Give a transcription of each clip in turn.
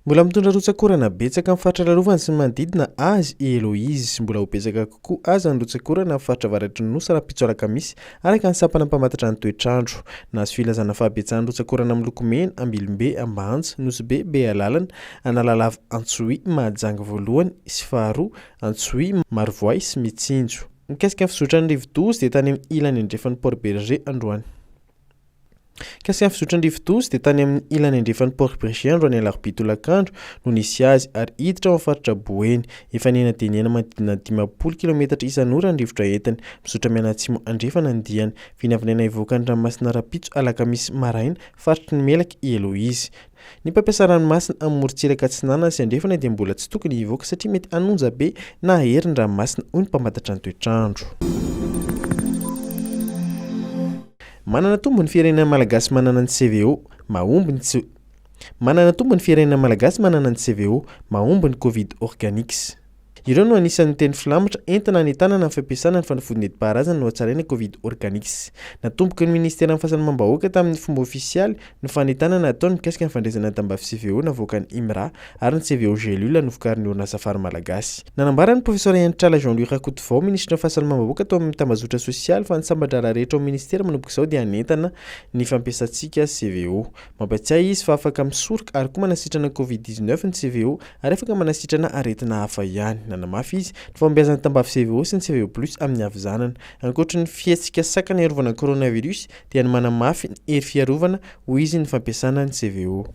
Mbola mitondra rotsak'orana betsaka amin'ny faritra lalovany sy ny manodidina azy i Eloise. Mbola ho betsaka kokoa aza ny rotsak'orana amin'ny faritra avaratry ny nosy rahampitso alakamisy, araka ny sampana mpamantatra ny toetr'andro. Nahazo filazana fahabetsahan'ny rotsak'orana miloko mena, Ambilombe, Ambanja, Nosy-Be, Bealalana, Analalava, Antsohihy, Mahajanga voalohany sy faharoa, Antsohihy, Marovoay sy Mitsinjo. Mikasika ny fizotran'ny rivodoza dia tany amin'ny ilany andrefan'i Port Berger androany. Mikasika ny fizotran'ny rivodoza dia tany amin'ny ilany andrefan'i Port Berger androany alarobia tolakandro no nisy azy ary hiditra ao amin'ny faritra Boeny. Efa nihena dia nihena manodidina ny dimampolo kilometatra isan'ora ny rivotra entiny. Mizotra mianatsimo andrefana ny diany. Vinavinaina hivoaka ny ranomasina rahampitso alakamisy maraina faritry ny Melaky i Eloise. Ny mpampiasa ranomasina amin'ny morontsiraka atsinanana sy andrefana dia mbola tsy tokony hivoaka satria mety hanonja be na hahery ny ranomasina, hoy ny mpamantatra ny toetr'andro. Manana tombony firenena malagasy manana ny CVO, mahomby ny tsy Manana tombony firenena malagasy manana ny CVO, mahomby ny Covid Organics. Ireo no anisan'ny teny filamatra entina hanentanana ny fampiasana ny fanafody nentim-paharazana nohatsaraina Covid Organics. Natomboky ny Ministeran'ny Fahasalamam-bahoaka tamin'ny fomba ofisialy ny fanentanana ataony mikasika ny fandraisana ny tambavy CVO navoakan'ny IMRA ary ny CVO Gélule novokarin'ny orinasa Fary Malagasy. Nanambara ny Profesora Henitrala Jean Louis Rakotovao, Minisitry ny Fahasalamam-bahoaka tao amin'ny Tambazotra Sosialy fa ny sambadraharaha rehetra ao amin'ny Ministera manomboka izao dia hanentana ny fampiasantsika CVO. Mampiatsiahy izy fa afaka misoroka ary koa manasitrana Covid dix-neuf ny CVO ary afaka manasitrana aretina hafa ihany. Nanamafy izy ny fahombiazan'ny tambavy CVO sy ny CVO Plus amin'ny havizanana. Ankoatry ny fihetsika sakana hiarovana coronavirus dia ny manamafy ny hery fiarovana hoy izy ny fampiasana ny CVO.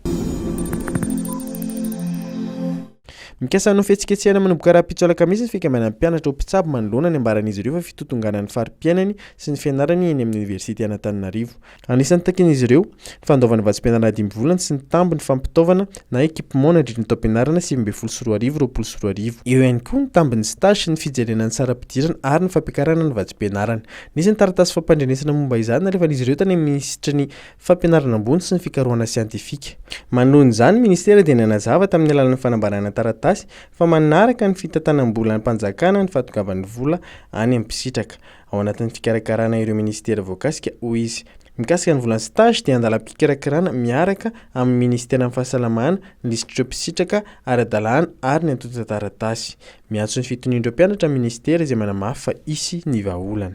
Mikasa hanao fihetsiketsehana manomboka rahampitso alakamisy ny fikambanan'ny mpianatra ho mpitsabo manoloana ny ambaran'izy ireo fa fitotonganan'ny fari-piainany sy ny fianarany eny amin'ny oniversite Anatananarivo. Anisan'ny takian'izy ireo, ny fandoavana vatsim-pianarana dimy volana sy ny tambiny fampitaovana na équipement nandritry ny taom-pianarana sivy ambin'ny folo sy roa arivo, roapolo sy roa arivo. Eo ihany koa ny tambin'ny stage sy ny fijerena ny saram-pidirana ary ny fampiakarana ny vatsim-pianarana. Nisy ny taratasy fampandrenesana momba izany nalefan'izy ireo tany amin'ny minisitry ny Fampianarana ambony sy ny fikarohana siantifika. Manoloana izany, ny minisitera dia nanazava tamin'ny alalan'ny fanambarana taratasy fa manaraka ny fitantanam-bolan'Mpanjakana ny fahatogavan'ny vola any amin'ny mpisitraka. ao anatin'ny fikarakarana ireo minisitera voakasika, hoy izy. Mikasika ny volan'ny stage dia an-dalam-pikarakarana miaraka amin'ny minisiteran'ny Fahasalamana ny lisitr'ireo mpisitraka ara-dalàna ary ny antontan-taratasy. Miantso ny fitonian'ireo mpianatra ny minisitera izay manamafy fa hisy ny vahaolana.